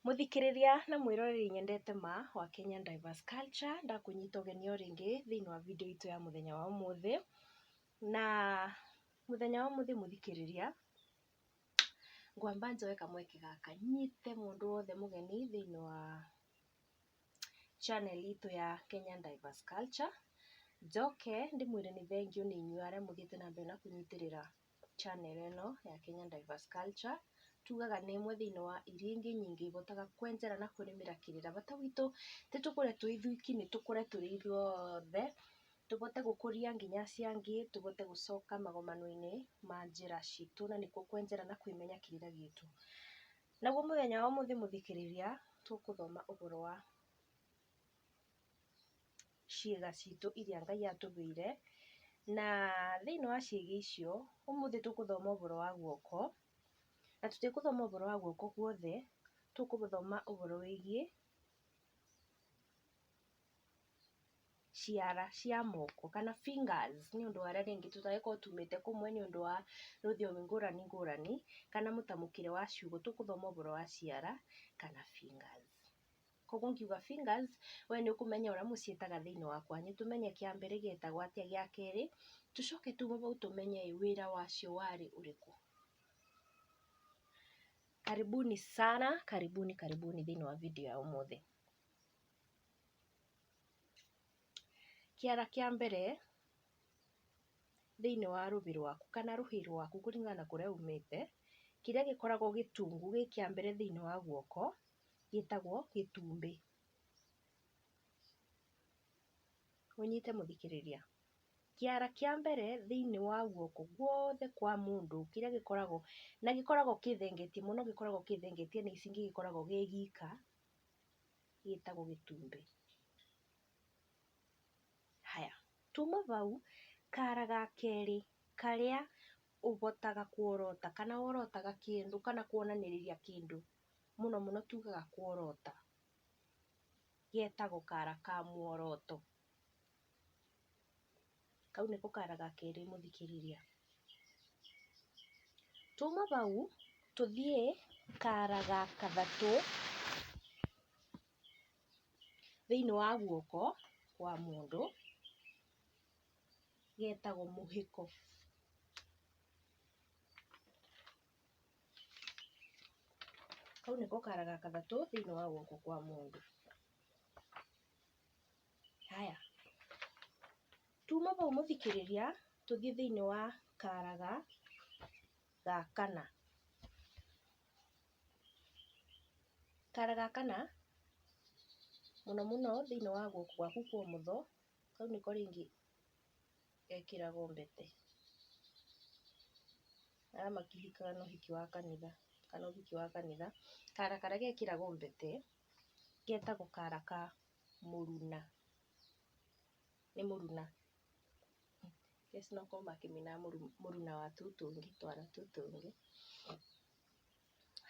Mũthikĩrĩria na mwĩroreri nyendete ma wa Kenyan Diverse Culture, ndakũnyita ũgeni o rĩngĩ thĩinĩ wa video itũ ya mũthenya wa ũmũthĩ. Na mũthenya wa ũmũthĩ mũthikĩrĩria, ngwamba njoe kamweke gaka nyite mũndũ wothe mũgeni thĩinĩ wa channel itũ ya Kenyan Diverse Culture, njoke ndĩmwĩre nĩ thengiũ nĩ inyuĩ arĩa mũthiĩte na mbere na kũnyitĩrĩra channel ĩno ya Kenya Diverse Culture, tugaga nĩ ĩmwe thĩinĩ wa iria ingĩ nyingĩ ihotaga kwenjera na kũrĩmĩra kĩrĩra. Bata witũ ti tũkũre twĩ ithuiki, nĩ tũkũre tũrĩ ithuothe, tũbote gũkũria nginya acio angĩ, tũbote gũcoka magomano-inĩ ma njĩra citũ na nĩkuo kwenjera na kwĩmenya kĩrĩra gitũ. Naguo mũthenya wa ũmũthĩ mũthikĩrĩria, tũkũthoma ũboro wa. ciĩga citũ iria Ngai atũheire, na thĩinĩ wa ciĩga icio, ũmũthĩ tũgũthoma ũhoro wa guoko, na tũtigũthoma ũhoro wa guoko guothe, tũgũthoma ũhoro wĩgiĩ ciara cia moko kana fingers nĩ ũndũ wa arĩa rĩngĩ tũtangĩkorwo tumĩte kũmwe nĩ ũndũ wa rũthiomi ngũrani ngũrani, kana mũtamũkĩre wa ciugo, tũgũthoma ũhoro wa ciara kana fingers. Koguo ngiuga fingers, we nĩ ũkũmenya ũrĩa mũciĩtaga thĩinĩ wa kwanyu. Tũmenye kĩa mbere gĩetagwo atĩa, gĩa kerĩ, tũcoke tume bau tũmenye ĩ, wĩra wacio warĩ ũrĩkũ. Karibuni sana, karibuni karibuni thĩinĩ wa video ya ũmũthĩ. Kĩara kĩa mbere thĩinĩ wa rũbĩ rwaku kana rũhĩ rwaku kũringana na kũrĩa umĩte, kĩrĩa gĩkoragwo gĩtungu gĩ kĩa mbere thĩinĩ wa guoko, gĩtagwo gĩtumbĩ. Ũnyite mũthikĩrĩria. Kĩara kĩa mbere thĩinĩ wa guoko guothe kwa mũndũ kĩrĩa gĩkoragwo, na gĩkoragwo kĩthengetie mũno gĩkoragwo kĩthengetie na ici ingĩ gĩkoragwo gĩ gika, gĩtagwo gĩtumbĩ. Haya, tuma bau, kara ga kerĩ karĩa ũbotaga kuorota kana worotaga kĩndũ kana kuonanĩrĩria kĩndũ mũno mũno tugaga kworota, getagwo kara ka mworoto. Kau nĩko kara ga kerĩ mũthikĩrĩria. Tuma bau tũthiĩ kara ga kathatũ thĩiniĩ wa guoko kwa mũndũ, getagwo mũhĩko. Kau nĩko kara ga kathatũ thĩinĩ wa guoko kwa mũndũ. Haya, tuma vau mũthikĩrĩria tũthiĩ thĩinĩ wa kara ga ga kana. Kara ga kana mũno mũno thĩinĩ wa guoko gwaku kwa ũmotho, kau nĩko rĩngĩ gekĩragwo mbete, arĩa makĩhikaga na ũhiki wa kanitha kana ũhiki wa kanitha, kara karĩa gekĩragwo mbete getagwo kara ka mũruna, nĩ mũruna, in case no gũkorwo makĩinaga mũruna wa tũtũngĩ, twara tũtũngĩ,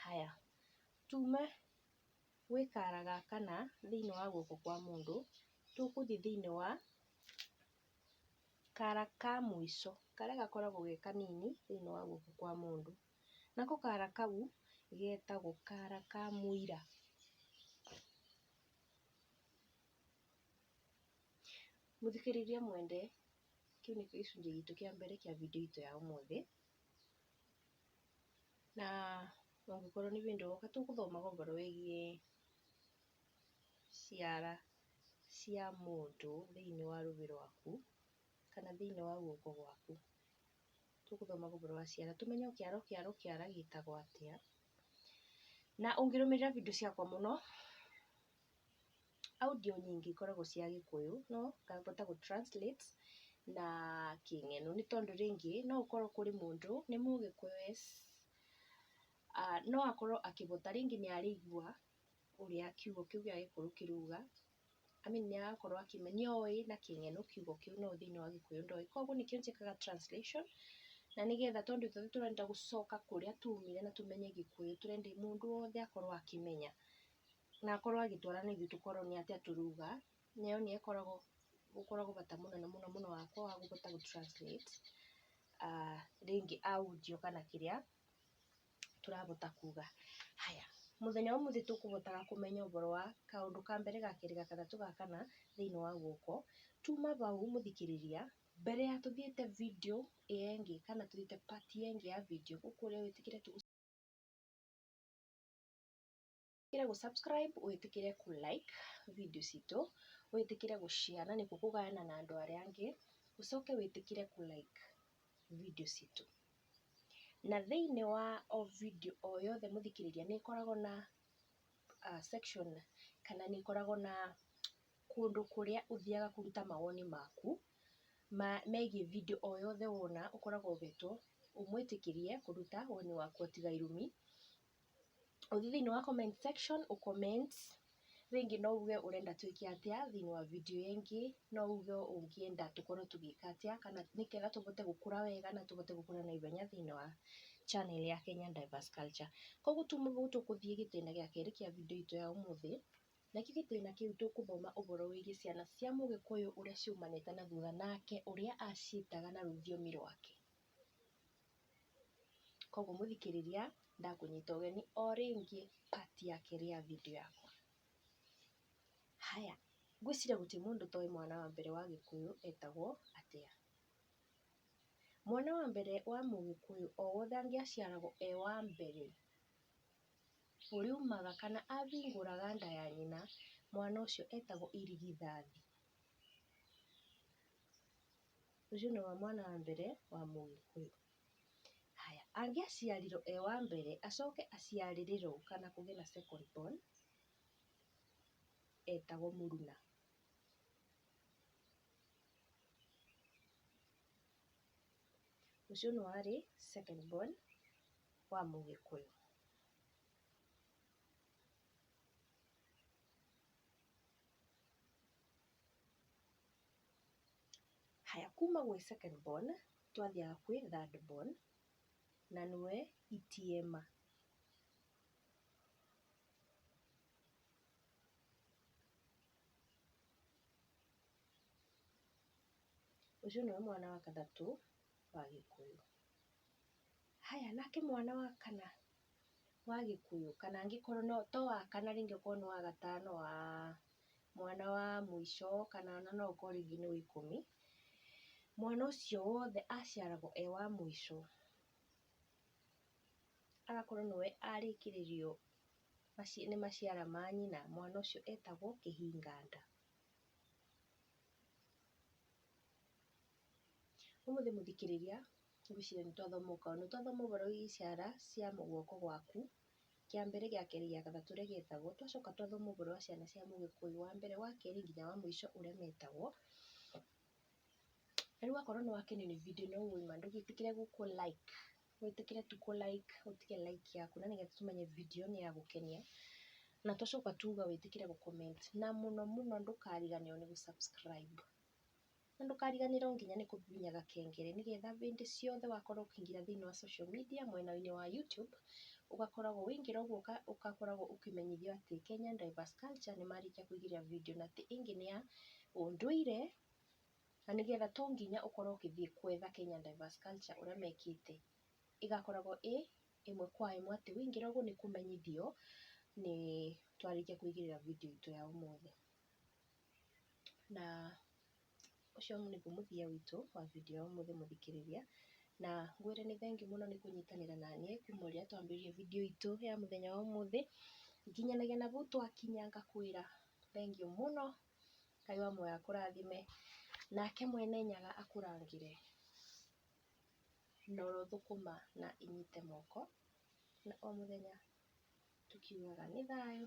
haya, tume gwĩ kara ga kana thĩinĩ wa guoko kwa mũndũ, tũgũthiĩ thĩinĩ wa. Kara ka mũico karĩa gakoragwo ge kanini thĩiniĩ wa guoko kwa mũndũ, nako kara kau getagwo kara ka mũira. Mũthikĩrĩria mwende, kĩu nĩkĩo gĩcunjĩ gitũ kĩa mbere kĩa video itũ ya ũmũthĩ, na ũngĩkorwo nĩ hĩndĩ ũroka tũgũthomaga ũhoro wĩgiĩ ciara cia mũndũ thĩinĩ wa rũĩ rwaku, kana thĩinĩ wa guoko gwaku. Tũgũthoma ũhoro wa ciara tũmenye o kĩara o kĩara o kĩara gĩtagwo atĩa. Na ũngĩrũmĩrĩra video ciakwa mũno, audio nyingĩ ikoragwo cia gĩkũyũ no ngahota gũ translate na kĩng'eno nĩ tondũ rĩngĩ no ũkorwo kũrĩ mũndũ nĩ mũgĩkũyũ yes, no akorwo akĩhota rĩngĩ nĩ araigua ũrĩa kiugo kĩu gĩa gĩkũyũ kĩruga, I mean nĩ arakorwo akĩmenya oĩ na kĩng'eno kiugo kĩu no thĩiniĩ wa gĩkũyũ ndoĩ. Koguo nĩkĩo njĩkaga translation na nĩgetha tondũ ithuothe tũrenda gũcoka kũrĩa tumire na tũmenye gĩkũyũ, tũrenda mũndũ wothe akorwo akĩmenya na akorwo agĩtwara na ithuĩ tũkorwo nĩ atĩa tũruga. Na ĩyo nĩyo ĩkoragwo, ũkoragwo bata mũnene mũno mũno wakwa wa kũhota gũ translate rĩngĩ audio kana kĩrĩa. tũrahota kuga. Haya, mũthenya wa ũmũthĩ tũkũhotaga kũmenya ũboro wa kaũndũ ka mbere, ga kerĩ, ga gatatũ, ga kana thĩiniĩ wa guoko. Tuma bau mũthikĩrĩria, mbere ya tũthiĩte video ĩyo ĩngĩ kana tũthiĩte part ĩyo ĩngĩ ya video ngũkũria wĩtĩkĩre tũgũ. wĩtĩkĩre gũ subscribe, wĩtĩkĩre kũ like video citũ, wĩtĩkĩre gũ share na nĩkuo kũgayana na andũ arĩa angĩ, ũcoke wĩtĩkĩre kũ like video citũ. Na thĩinĩ wa o video o yothe mũthikĩrĩria nĩ ĩkoragwo na section kana nĩ ĩkoragwo na kũndũ kũrĩa ũthiaga kũruta mawoni maku megiĩ video o yothe wona, ũkoragwo ũgetwo ũmwĩtĩkĩrie kũruta woni waku o tiga irumi. ũthiĩ thĩiniĩ wa comment section ũ comment rĩngĩ no uge ũrenda twĩke atĩa thĩiniĩ wa video ĩyo ĩngĩ, no uge ũngĩenda tũkorwo tũgĩka atĩa kana nĩgetha tũhote gũkũra wega na tũhote gũkũra na ihenya thĩiniĩ wa channel ya Kenyan Diverse Culture. Koguo tume gũkũ tũgũthiĩ gĩtĩna gĩa kerĩ kĩa video itũ ya ũmũthĩ, nakĩo gĩtĩna kĩu tũgũthoma ũhoro wĩgiĩ ciana cia mũgĩkũyũ ũrĩa ciumanĩte na thutha nake ũrĩa aciĩtaga na rũthiomi rwake. Kwoguo mũthikĩrĩria ndakũnyita ũgeni o rĩngĩ part ya kerĩ ya video yakwa. Haya, ngwĩciria gũtirĩ mũndũ ũtoĩ mwana wa mbere wa gĩkũyũ etagwo atĩa. Mwana wa mbere wa mũgĩkũyũ o wothe angĩaciaragwo e wa mbere, ũrĩumaga kana ahingũraga nda ya nyina, mwana ũcio etagwo irigithathi. Ũcio nĩ mwana wa mbere wa mũgĩkũyũ. Haya, angĩaciarirwo e wa mbere, acoke aciarĩrĩrwo kana kũgĩe na second born, etagwo mũruna. Ũcio nĩ warĩ second born wa mũgĩkũyũ. Haya kuma gwĩ second born twathiaga gwĩ third born na nĩwe itiema. Ũcio nĩwe mwana wa gatatũ wa gĩkũyũ. Haya nake mwana wa kana. wa gĩkũyũ kana angĩkorwo no to wa kana rĩngĩ okorwo nĩ wa gatano wa mwana wa mũico kana ona no ũkorwo rĩngĩ nĩ wa ikũmi, mwana ũcio wothe aciaragwo e wa mũico, agakorwo nĩwe arĩkĩrĩrio nĩ maciara ma nyina, mwana ũcio etagwo kĩhinganda. Ũmũthĩ mũthikĩrĩria Ngwĩciria nĩ twathoma o kaũndũ. Nĩ twathoma ũboro wĩgiĩ ciara cia guoko gwaku, kĩa mbere, gĩa kerĩ, gĩa gatatũ ũrĩa gĩtagwo. Twacoka twathoma ũboro wa ciana cia mũgĩkũyũ wa mbere, wa kerĩ nginya wa mũico ũrĩa metagwo. Na rĩu wakorwo nĩ wakenio nĩ video ĩno ĩĩ ma, ndũgĩtĩkĩre gũ kũ like, wĩtĩkĩre tu kũ like, ũtige like yaku na nĩgetha tũmenye video nĩ ya gũkenia. Na twacoka tuga wĩtĩkĩre gũ comment. Na mũno mũno ndũkariganĩrwo nĩ gũ subscribe. Na ndũkariganĩrwo nginya nĩ kũhihinya gakengere nĩgetha hĩndĩ ciothe wakorwo ũkĩingĩra thĩiniĩ wa social media mwena-inĩ wa YouTube, ũgakoragwo waingĩra ũguo ũgakoragwo ũkĩmenyithio atĩ Kenyan Divas Culture nĩ marĩkia kũigĩrĩra video na atĩ ĩngĩ nĩ ya ũndũire, na nĩgetha to nginya ũkorwo ũgĩthiĩ gwetha Kenyan Divas Culture ũrĩa mekĩte. Ĩgakoragwo ĩ ĩmwe kwa ĩmwe atĩ waingĩra ũguo nĩ kũmenyithio nĩ twarĩkia kũigĩrĩra video itũ ya ũmũthĩ. Na ũcio nĩguo mũthia witũ wa video ya ũmũthĩ mũthikĩrĩria, na ngwĩre nĩ thengiũ mũno nĩ kũnyitanĩra na niĩ kuma ũrĩa twambĩrĩirie video itũ ya mũthenya wa ũmũthĩ nginyanagia na hau twakinya, ngakwĩra thengiũ mũno, Ngai wa muoyo akũrathime, nake Mwene Nyaga akũrangĩre na oro thũkũma na inyite moko, na o mũthenya tũkiugaga nĩ thayũ.